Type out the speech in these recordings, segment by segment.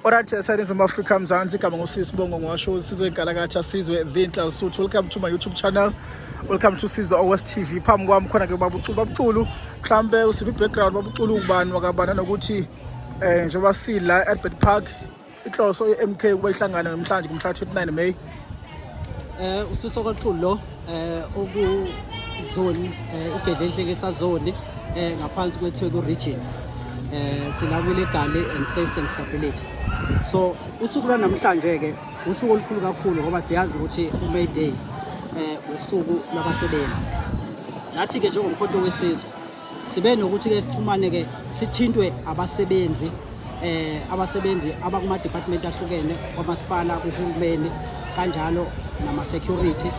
Alright, uh, Silence of Africa Mzansi igama ngusisibongo ngiwasho sizwe inkalakatha sizwe Vinhla Lesotho welcome to my YouTube channel welcome to Sizwe Owes TV phambi kwami khona ke baba uCulu baba uCulu mhlambe usiphi background baba uCulu ubani wakabana nokuthi eh njengoba sila Albert Park inhloso ye-MK ukuba ihlangane namhlanje kumhla 29 May eh usifiso kwaxulu lo eh oku zone eh igedle enhleke sazone eh ngaphansi kwethweku region eh silawile egali and safety and stability so usuku lwanamhlanje ke usuku olukhulu kakhulu ngoba siyazi ukuthi uMay Day eh usuku labasebenzi nathi ke njengomkhonto wesizwe sibe nokuthi-ke sixhumane-ke sithintwe abasebenzi eh abasebenzi abakuma department ahlukene kwamasipala kuhulumeni kanjalo nama security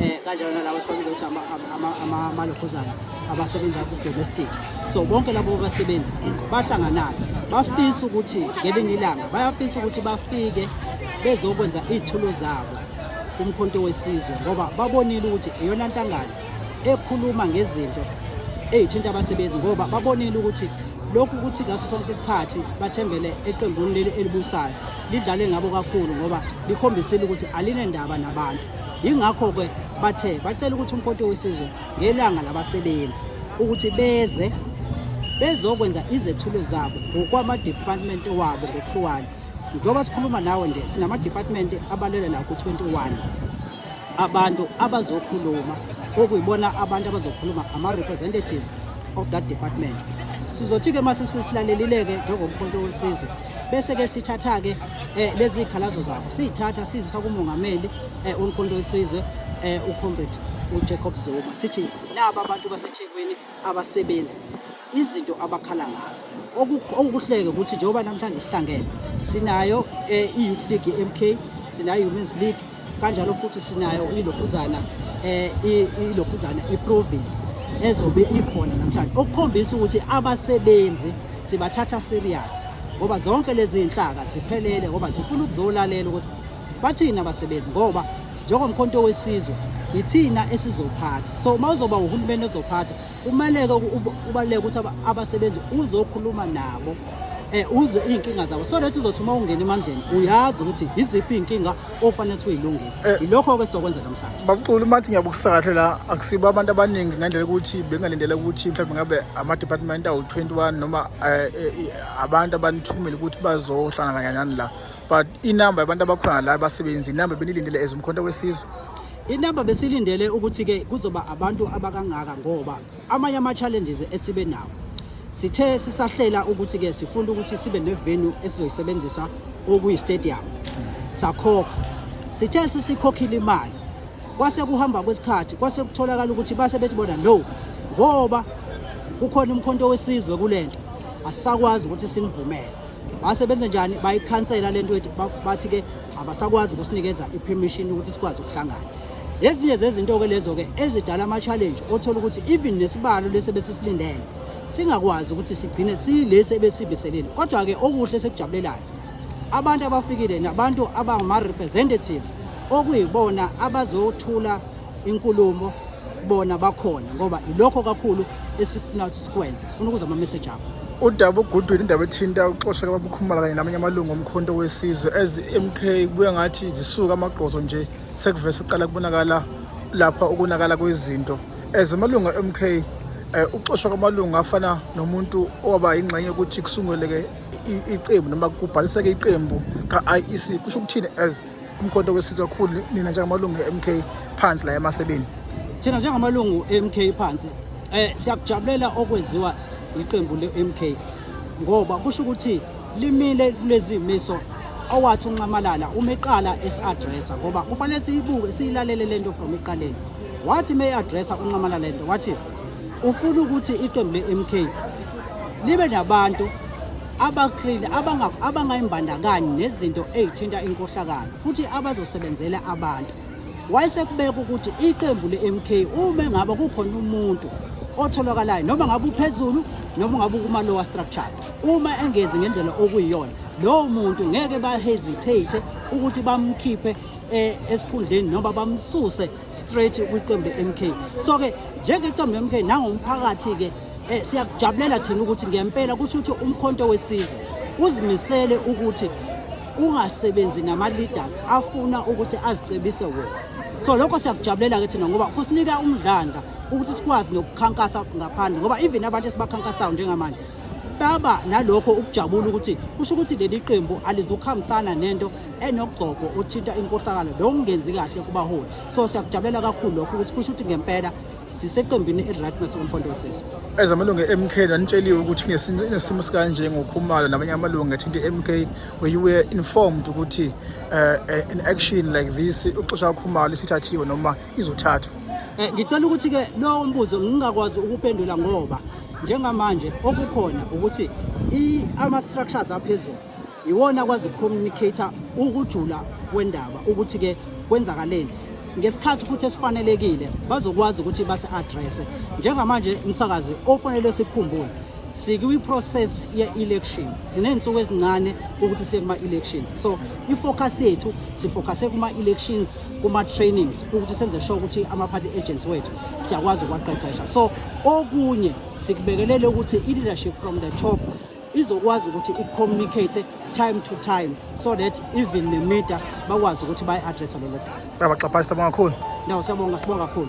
eh kanjalo nalabo sibabiza ukuthi ama ama ama malokhuzana abasebenza ku domestic so bonke labo basebenzi bahlanganayo bafisa ukuthi ngelinye ilanga bayafisa ukuthi bafike bezokwenza izithulo zabo kumkhonto wesizwe ngoba babonile ukuthi iyona nhlangano ekhuluma ngezinto ezithinta abasebenzi ngoba babonile ukuthi lokhu ukuthi ngaso sonke isikhathi bathembele eqembuni leli elibusayo lidlale ngabo kakhulu ngoba likhombisile ukuthi alinendaba nabantu yingakho-ke bathe bacela ukuthi umkhonto wesizwe ngelanga labasebenzi ukuthi beze bezokwenza izethulo zabo ngokwamadepartment wabo ngokuhlukana njengoba sikhuluma nawe nje sinamadepartment abalele la ku-21 abantu abazokhuluma okuyibona abantu abazokhuluma ama-representatives of that department sizothi-ke uma sesilalelile-ke njengomkhonto wesizwe bese-ke sithatha-ke um lezi y'khalazo zabo siyithatha sizisa kumongameli um eh, umkhonto wesizwe um eh, ucomrade ujacob zuma sithi naba abantu basethekwini abasebenzi izinto abakhala ngazo okukuhleke ukuthi njengoba namhlanje sihlangene sinayo eh, i-youth league ye-mk sinayo i-women's league kanjalo futhi sinayo ilokhuzana eh, ilokhuzana i-province ezobe ikhona namhlanje okukhombisa ukuthi abasebenzi sibathatha serious ngoba zonke lezi nhlaka ziphelele ngoba zifuna ukuzolalela ukuthi Bathini abasebenzi ngoba njengomkhonto wesizwe yithina esizophatha so uma uzoba uhulumeni ozophatha kumeleke ubaluleke ukuthi abasebenzi uzokhuluma nabo um uzwe iy'nkinga zabo so lethi uzothi uma ungena emandleni uyazi ukuthi yiziphi iy'nkinga ofanele ukuthi uyilungise eh. yilokho-ke sizokwenza namhlanje babucula uma thi ngiyabukusisa kahle la akusibo abantu abaningi ngendlela yokuthi bengalindela ukuthi mhlawumbe ngabe ama-department awu-twenty one noma um abantu abanithumile ukuthi bazohlangana kanyani la but inamba yabantu abakhona la abasebenzi inamba benilindele as umkhonto wesizwe inamba besilindele ukuthi-ke kuzoba abantu abakangaka ngoba amanye ama-challenges esibe nawo sithe sisahlela ukuthi-ke sifuna ukuthi sibe nevenu esizoyisebenzisa okuyistadium sakhokha sithe sisikhokhile imali kwase kuhamba kwesikhathi kwase kutholakala ukuthi base bethi bona no ngoba kukhona umkhonto wesizwe kule nto asisakwazi ukuthi sinivumele base benze njani bayikhansela le nto ethi bathi ke abasakwazi ukusinikeza i-permission ukuthi sikwazi ukuhlangana ezinye zezinto-ke lezo-ke ezidala ama-challenge othola ukuthi even nesibalo lesi ebesisilindele singakwazi ukuthi sigcine silesi ebesibiselile kodwa-ke okuhle sekujabulelayo abantu abafikile nabantu abangama-representatives okuyibona abazothula inkulumo bona bakhona ngoba ilokho kakhulu esikufuna ukuthi sikwenze sifuna ukuza ama-message abo udaba ogudwini indaba ethinta uxosheka babukhumala kanye namanye amalungu omkhonto wesizwe as mk kubuye ngathi zisuka amagqozo nje sekuvese uqala kubonakala lapha ukonakala kwezinto as amalungu e-mk um eh, uxoshwa kwamalungu afana nomuntu owaba yingxenye yokuthi kusunguleke iqembu noma kubhaliseke iqembu ka-iec kusho ukuthini as umkhonto wesizwe kakhulu nina njengamalungu e-mk phansi la emasebeni thina njengamalungu e-mk phansi um siyakujabulela okwenziwa yiqembu le-mk ngoba kusho ukuthi limile kulezi miso owathi unxamalala uma eqala esi-adressa ngoba kufanele siyibuke siyilalele le nto from ekuqaleni wathi uma e-adressa unxamalala le nto wathi ufuna ukuthi iqembu le-m k libe nabantu abaklini abangayimbandakanyi nezinto ezithinta inkohlakalo futhi abazosebenzela abantu wayesekubeka ukuthi iqembu le-mk uma ngabe kukhona umuntu otholakalayo noma ngabe uphezulu noma ngabe ukuma-lower structures uma engezi ngendlela okuyiyona lowo muntu ngeke bahesitate ukuthi bamkhiphe eh, esikhundleni noma bamsuse straight kwiqembu le-mk so-ke njengeqembu le-mk nangomphakathi-ke Eh siyakujabulela thina ukuthi ngempela kusho ukuthi umkhonto wesizwe uzimisele ukuthi ungasebenzi nama leaders afuna ukuthi azicebise wona. So lokho siyakujabulela ke thina ngoba kusinika umdlandla ukuthi sikwazi nokukhankasa ngaphandle ngoba even abantu esibakhankasayo njengamanje baba nalokho ukujabula ukuthi kusho ukuthi leli qembu alizukuhambisana nento enogcobo othinta inkohlakalo lokungenzi kahle kubaholi so siyakujabulela kakhulu lokho ukuthi kusho ukuthi ngempela siseqembini elirat nasekomphondo wesizwe ezamalungu e-mk nanitsheliwe ukuthi inesimo sikanje ngokhumalo namanye amalungu athinta i-mk where you were informed ukuthi uh, an action like this uxosha ukhumalo isithathiwe noma izothathwa um ngicela ukuthi-ke lowo mbuzo ngingakwazi ukupendula ngoba njengamanje okukhona ukuthi ama-structures aphezulu iwona akwazi ukucommunicator ukujula kwendaba ukuthi ke kwenzakaleni ngesikhathi futhi esifanelekile bazokwazi ukuthi basi-addresse njengamanje msakazi ofanele sikhumbule sikwi-process ye-election siney'nsuku ezincane ukuthi siye kuma-elections so i-focus yethu sifocuse kuma-elections kuma-trainings ukuthi senze sure ukuthi ama-party agents wethu siyakwazi ukuwaqeqesha so okunye sikubekelele ukuthi i-leadership from the top izokwazi ukuthi i-communicate time to time so that even nemida bakwazi ukuthi bayi-addressa lelo daba. Bayabaxaphayisa bonga kakhulu. Ndawo siyabonga sibonga kakhulu.